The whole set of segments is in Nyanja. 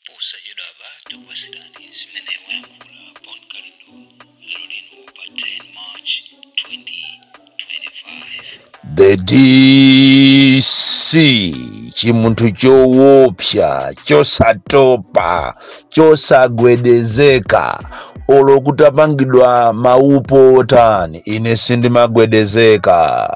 posachedwapa tikupatsirani zimene wayankhula bon kalindo lero lino pa 10 march 2025 The DC chimunthu chowopsa chosatopa chosagwedezeka olo kutapangidwa maupo otani ine sindimagwedezeka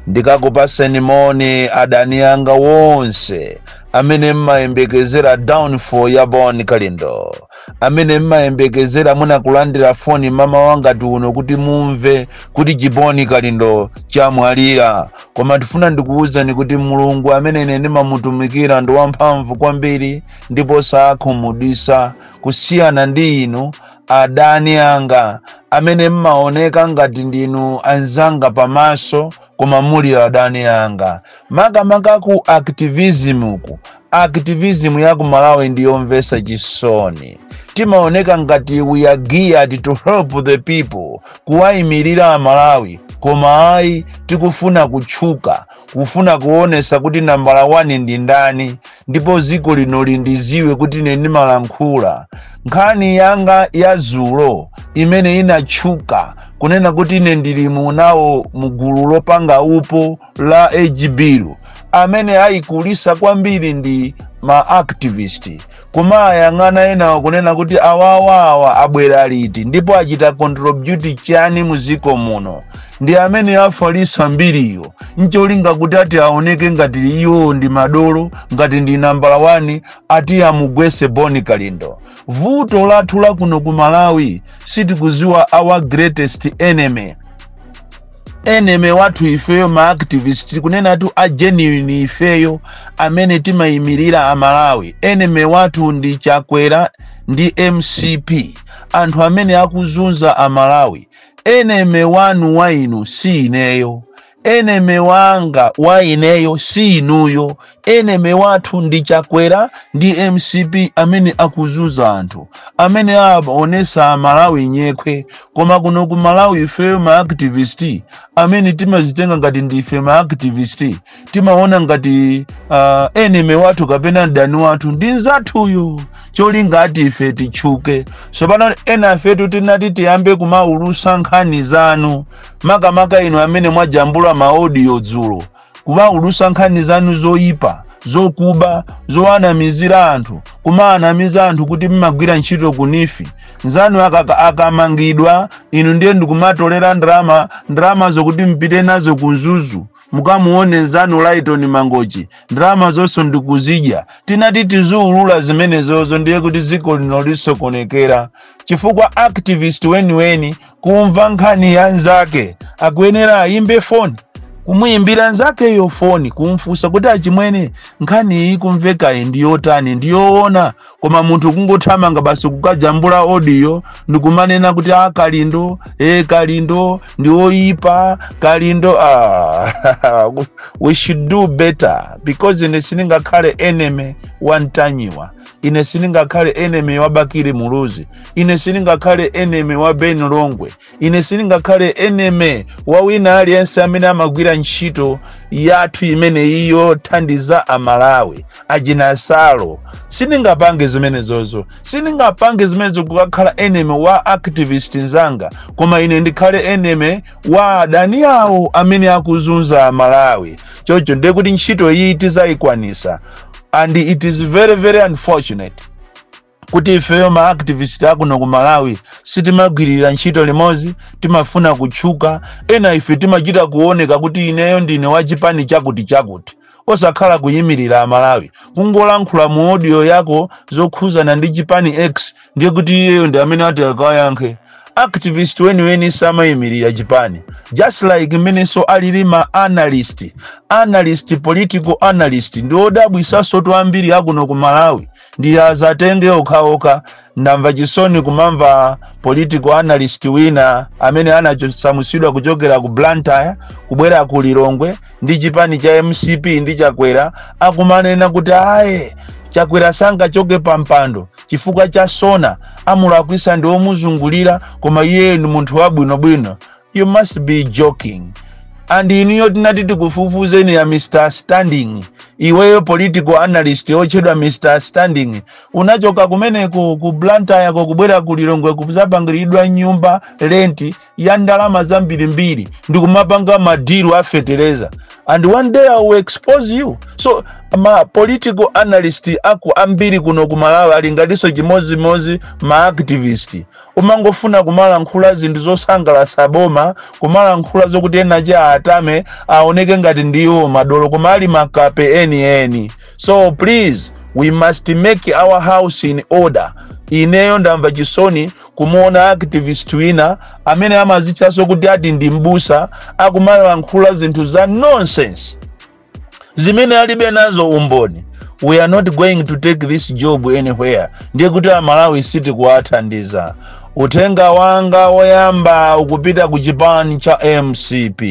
ndikakupaseni moni adani anga wonse amene mmayembekezera downfall ya bon kalindo amene mmayembekezera munakulandira foni mmawa ngati uno kuti mumve kuti chiboni kalindo chamwalira koma ndifuna ndikuwuzeni kuti mulungu amene ine ndimamutumikira ndi wamphamvu kwambiri ndipo sakhumudwisa kusiyana ndi inu adani anga amene mmaoneka ngati ndinu anzanga pamaso koma muli adani anga makamaka ku activism ku activism ya ku malawi ndi yomvesa chisoni timaoneka ngati we are geared to help the people kuwayimirira amalawi koma ayi tikufuna kutchuka kufuna kuonesa kuti nambala 1 ndi ndani ndipo dziko lino lindiziwe kuti ine ndimalankhula nkhani yanga ya zulo imene inatchuka kunena kuti ine ndili munawo mugulu lopanga upo la ejibiru amene ayikulisa kwambiri ndi ma activist kumawayang'ana enawo kunena kuti awawawa abwera liti ndipo achita contribute chani mu dziko muno ndi amene afalisa mbiriyo ncholinga kuti ati aoneke ngati iwo ndi madolo ngati ndi nambala 1 ati amugwese boni kalindo vuto lathu lakuno ku malawi sitikuziwa our greatest enemy enemy wathu ifeyo ma activist tikunenatu a genuine ifeyo amene timayimirira amalawi enemy wathu ndi chakwera ndi mcp anthu amene akuzunza amalawi enemy wanu wa inu si ineyo enemy wanga wa ineyo si inuyo Enemy wathu ndi Chakwera ndi mcp amene akuzunza anthu amene aonesa amalawi nyekhwe koma kuno ku malawi ifeyo ma activist amene timazitenga ngati ndife ma activist timaona ngati uh, enemy wathu kapena mdani wathu ndi nzathuyo cholinga ati ife titchuke tsopano enafetu titati tiyambe kumaulusa nkhani zanu makamaka inu amene mwajambula maodiyo dzulo kumaulutsa nkhani zanu zoyipa zokuba zowanamizira anthu kumawanamiza anthu kuti mmagwira ntchito kunifi nzanu akaka- akamangidwa inu ndiye ndikumatolera ndalama ndalama zokuti mpite nazo ku mzuzu mukamuone nzanu laitoni mangochi ndalama zonso ndikuzidya tinati tiziulula zimenezozo ndiye kuti dziko lino lisokonekera chifukwa activist weniweni kumva nkhani ya nzake akuyenera ayimbe foni kumuyimbira nzakeyo foni kumfunsa kuti achimwene nkhani iyi kumvekayi ndi yotani ndi yoona koma munthu kungothamanga basi kukajambula odiyo ndikumanena kuti a kalindo e kalindo ndi oyipa kalindo ah, we should do better because ine sindingakhale enemy wa ntanyiwa ine sindingakhale enemy wa bakili muluzi ine sindingakhale enemy wa ben longwe ine sindingakhale enemy wa wina aliyense amene amagwira ntchito yathu imeneyi yothandiza amalawi achina salo sindingapange zimenezozo sindingapange zimenezo zokukakhala enemy wa activist nzanga koma ine ndikhale enemy wa adani awo amene akuzunza amalawi chocho ndiye kuti ntchito iyi tizayikwanisa and it is very very unfortunate kuti ifeyo ma activist akuno ku malawi sitimagwirira ntchito limodzi timafuna kutchuka ena ife timachita kuoneka kuti ineyo ndine wa chipani chakuti chakuti osakhala kuyimirira amalawi kungolankhula mu audio yako zokhuzana ndi chipani x ndiye kuti iyeyo ndi amene ati akawayankhe activist weniweni samayimirira chipani just like mmenenso alili ma analyst analyst political analyst ndi odabwisansotu ambiri akuno ku malawi ndi azatenge okhaokha ndamva chisoni kumamva political analyst wina amene anasamusidwa kuchokera ku blantyre kubwera ku lilongwe ndi chipani cha mcp ndi chakwera akumanena kuti ayi chakwera sangachoke pa mpando chifukwa cha zoona amulakwisa ndi omuzungulira koma iyeyo ndi munthu wabwinobwino you must be joking and inuyo tinati tikufufuzeni ya mr standing iweyo political analyst otchedwa mr standing unachoka kumeneko ku blantyre ko kubwera ku lilongwe kuzapangiridwa nyumba lenti ya ndalama zambirimbiri ndi kumapanga madilu a fetereza and one day i will expose you so ma political analyst aku ambiri kuno ku malawi ali ngatinso chimodzimodzi ma activist umangofuna kumalankhula zinthu zosangalatsa boma kumalankhula zokuti ena achiatame aoneke ngati ndiwo madolo koma ali makape enieni so please we must make our house in order ineyo ndamva chisoni kumuona activist wina amene amazitchaso kuti ati ndi mbusa akumalankhula zinthu za nonsense zimene alibe nazo umboni we are not going to take this job anywhere ndiye kuti amalawi sitikuwathandiza uthenga wanga woyamba ukupita ku chipani cha mcp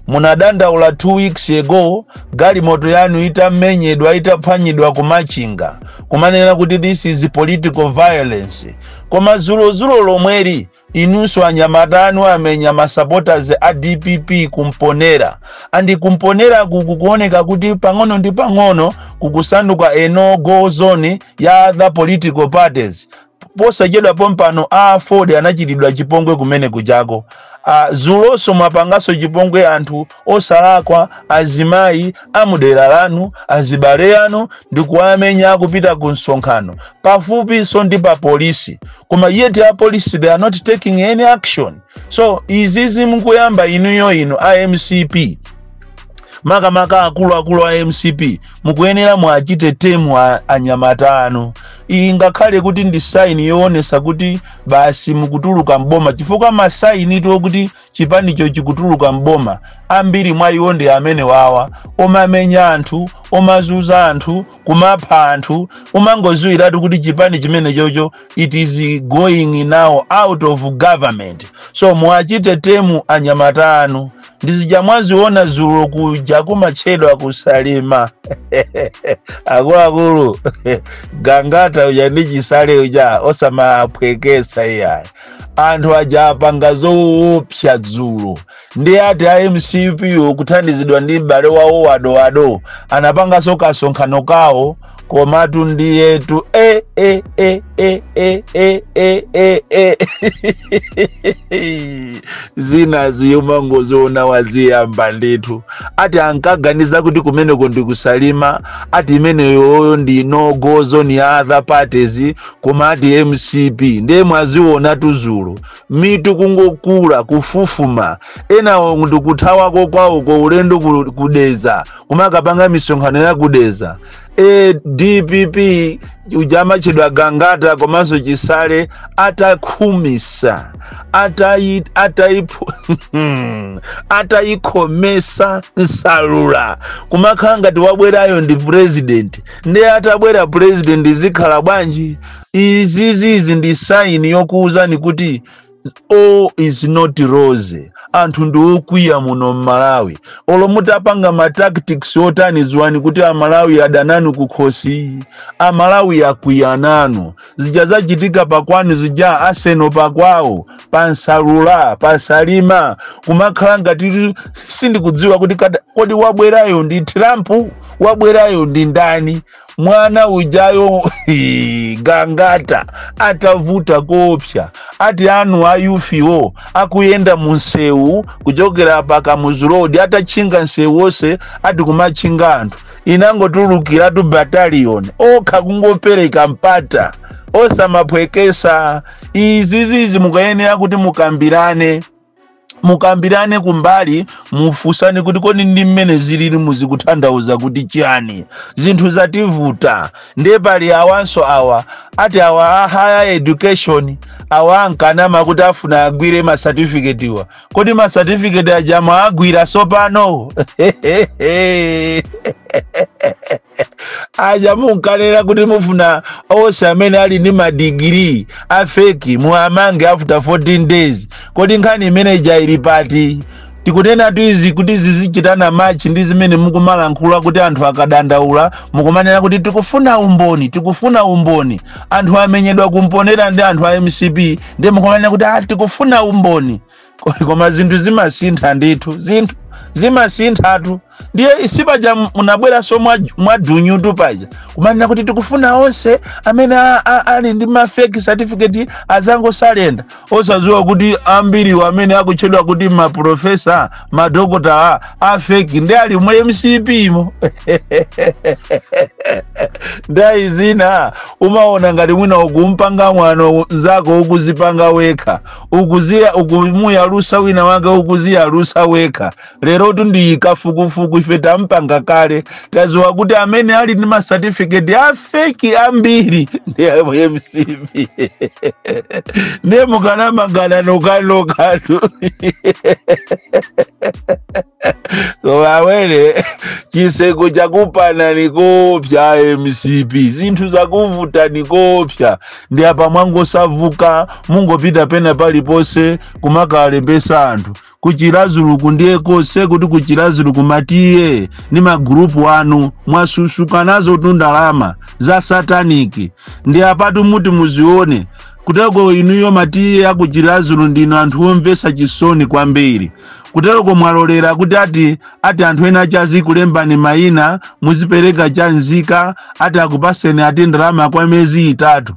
munadandaula two weeks ago galimoto yanu itamenyedwa itaphwanyidwa kumachinga kumanena kuti this is political violence koma zulozulo lomweli inunso anyamata anu amenya masupporters a dpp kumponera and kumponera kukuoneka kuti pang'ono ndi pang'ono kukusanduka a no go zone ya other political parties posachedwa pompano a aford anachitidwa chipongwe kumene kujako zuloso mwapangaso chipongwe anthu osalakwa azimayi amudera lanu azibale yanu ndikuwamenya akupita ku msonkhano pafupiso ndi pa polisi koma yet a polisi they are not taking any action so izizi mukuyamba inuyo inu a mcp makamaka akuluakulu a mcp mukuyenera muwachite tame anyamata anu i ngakhale kuti ndi saini yoonesa kuti basi mukutuluka mboma chifukwa masaini to kuti chipanicho chikutuluka mboma ambiri mwa iwo ndi amene wawa omamenya anthu omazuza anthu kumapha anthu umangoziwiratu kuti chipani chimene chocho it is going now out of government so muwachite tame anyamata anu ndizija mwaziona zulo kuja kumatchedwa kusalima akuluakulu gangata uja ndi chisale uja osamaphwekesa iyayi anthu aja apanga zoopsa dzulo nde ati a mcp kuthandizidwa ndi m'bale wawo wa Dowa anapanganso kasonkhano kawo komatu ndiyetu e e e e e e e e e zinazi umangoziona waziyamba ndithu ati ankaganiza kuti kumeneko ndikusalima ati imeneyoyo ndi no go zone ya other parties koma ati mcp ndiye mwazionatu zulo mitu kungokula kufufuma enawo ndikuthawako kwawo kwa ulendo ku- kudeza kumakapanga misonkhano ya kudeza e dpp uja amatchedwa gangata komanso chisale atakhumisa atayi- atayipo- atayikhomesa Salima kumakhala ngati wabwerayo ndi president ndiye atabwera president zikhala bwanji izizizi ndi saini yokuwuzani kuti all is not rose anthu ndi okwiya muno mmalawi olo mutapanga ma tactics otani ziwani kuti amalawi adananu kukhosi amalawi akwiya nanu zija zachitika pakwanu zija a Seno pakwawo pa Nsalula pa Salima kumakhala ngati sindikudziwa kuti kada- kodi wabwerayo ndi trump wabwerayo ndi ndani mwana ujayo gangata atavuta koopsya ati anu a youth wo akuyenda mu msewu kuchokera pa kamuzu road atatchinga msewu wonse ati kumatchinga anthu inangotulukiratu battalion okha kungopereka mpata osamaphwekesa izizizi mukayenera kuti mukambirane mukambirane kumbali mufunsane kuti kodi ndi mmene zilili mu zikutanthauza kuti chiyani zinthu zativuta ndiye pali awanso awa ati awa a higher education awa ankanama kuti afuna agwire masatifiketiwa kodi masatifiketi aja mwaagwira sopano aja munkanena kuti mufuna onse amene ali ndi madigiri a feki muwamange after 14 days kodi nkhani imene ija ili pati tikunenatu izi kuti zizichitana machi ndi zimene mukumalankhula kuti anthu akadandaula mukumanena kuti tikufuna umboni tikufuna umboni anthu amenyedwa ku Mponela ndi anthu a mcp ndi mukumanena kuti tikufuna umboni koma zinthu zimasintha ndithu zinthu zimasinthatu ndiye sipaja munabweranso mwa- mwadunyutu paja kumanena kuti tikufuna onse amene a- a- ali ndi mafeki certificate azangosalenda osadziwa kuti ambiriwo amene akutchedwa kuti maprofesa madokotala afeki nde ali mu mcp mo nthawi zina umaona ngati mwina ukumpanga mwano nzako ukuzipanga wekha ukuziya ukumuyalusa wina wake ukuziyalusa wekha lerotu nde kafukufuku ife tapanga kale taziwa kuti amene ali ndi masatifiketi afeki ambiri ndi a mcp ndiye mukanamagana nokanokatu koma awene chiseko chakupanani koopsa a mcp zinthu zakuvutani koopsa ndi apa mwangosauka mungopita pena paliponse kumakalembesa anthu ku Chiradzuluku ndiye konse kuti ku Chiradzuluku ma T/A ndi magurupu anu mwasusuka nazotu ndalama za sataniki ndi apatu muti muzione kuteko inuyo ma T/A aku Chiradzulu ndinu anthu omvesa chisoni kwambiri kuteroko mwalolera kuti ati ati anthu ena aja azikulembani mayina muzipereka cha nzika ati akupatseni ati ndalama kwa miyezi itatu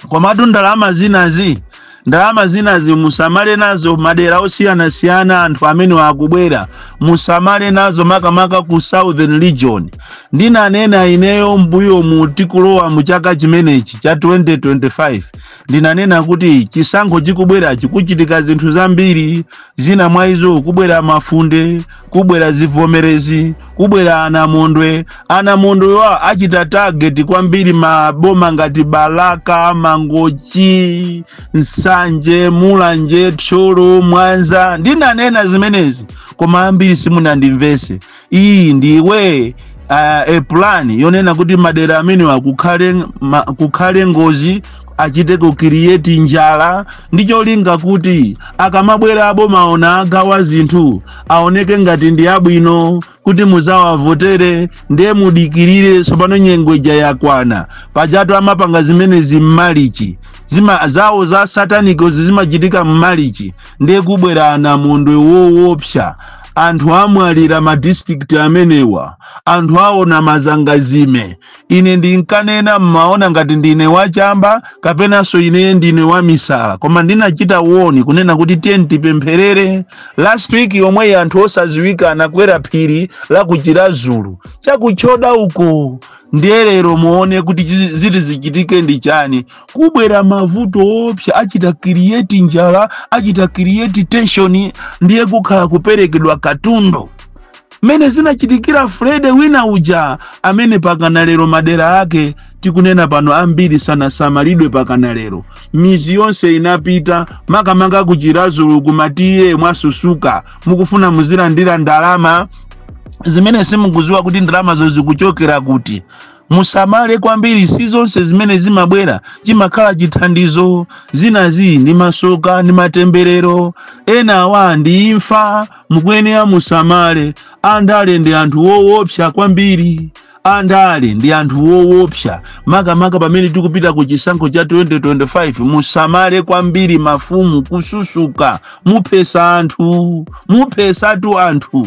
komatu ndalama zinazi ndalama zinazi musamale nazo madera osiyanasiyana anthu amene akubwera musamale nazo makamaka ku southern region ndinanena ineyo mbuyo mu tikulowa mu chaka chimenechi cha 2025 ndinanena kuti chisankho chikubwerachi kuchitika zinthu zambiri zina mwa izo kubwera mafunde kubwera zivomerezi kubwera anamondwe anamondwewa achita target kwambiri maboma ngati balaka mangochi nsanje mulanje thyolo mwanza ndinanena zimenezi koma ambiri simunandimvetse iyi ndiye uh, e plan yonena kuti madera amenewa kukhale, ma, kukhale ngozi achite kucreate njala ndi cholinga kuti akamabwera aboma aona agawa zinthu aoneke ngati ndi abwino kuti muzawavotere ndiye mudikirire tsopano nyengo ija yakwana pajatu amapanga zimenezi mmalichi zima zawo za satanikozi zimachitika mmalichi ndiye kubwera anamondwe wowopsa anthu amwalira ma district amenewa anthu aona mazangazime ine ndinkanena mmaona ngati ndine wachamba kapenanso ine ndine wamisala koma ndinachita warn kunena kuti tiyeni tipempherere last week yomweyi anthu osaziwika anakwera phiri la ku chiradzulu chakutchoda uko ndiye lero muone kuti chizi- ziti zichitike ndi chani kubwera mavuto oopsa achita create njala achita create tension ndiye kukhala kuperekedwa katundu mmene zinachitikira freddy wina uja amene pakana lero madera ake tikunena pano ambiri sanasamalidwe pakana lero mizi yonse inapita makamaka ku chiradzulu kumatiye mwasusuka mukufuna muzilandira ndalama zimene simukuziwa kuti ndalamazo zikuchokera kuti musamale kwambiri si zonse zimene zimabwera chimakhala chithandizo zinazi ndi masoka ndi matemberero enawa ndi imfa mukuyenera musamale andale ndi anthu wowopsa kwambiri andale ndi anthu wowopsa makamaka pamene tikupita ku chisankho cha 2025 musamale kwambiri mafumu kususuka muphetsa anthu muphetsatu anthu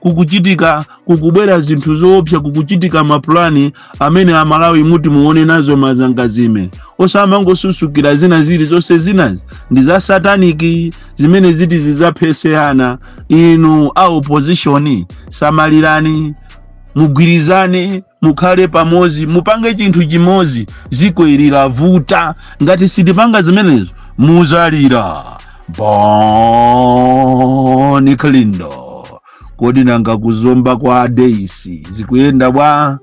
kukuchitika kukubwera zinthu zoopsa kukuchitika mapulani amene amalawi muti muone nazo mazangazime osamangosusukira zina zili zonse zinazi ndi za sataniki zimene ziti zizaphetse ana inu a opposition samalirani mugwirizane mukhale pamodzi mupange chinthu chimodzi dziko ili livuta ngati sitipanga zimenezo muzalira Bon Kalindo kodi nanga ku Zomba kwa adeisi zikuyenda bwa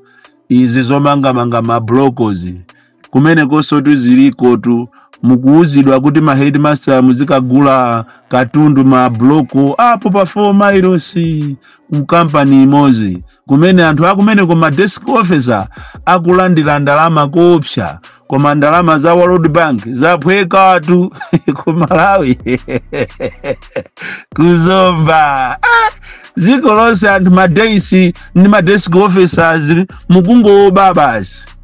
izi zomangamanga mablokozi kumenekonsotu zilikotu mukuwuzidwa kuti ma headmaster muzikagula katundu ma bloko apo pa 4 miles ku kampani imodzi kumene anthu akumeneko ma desk officer akulandira ndalama koopsa koma ndalama za world bank zaphwekatu ku malawi ku Zomba ah! dziko lonse anthu ma days ndi ma desk officers mukungowoba basi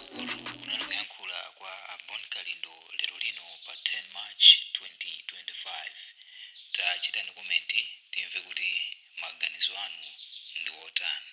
uku kunali kuyankhula kwa a Bon Kalindo lero lino pa 10 march 2025 tachitani komenti timve kuti maganizo anu ndi otani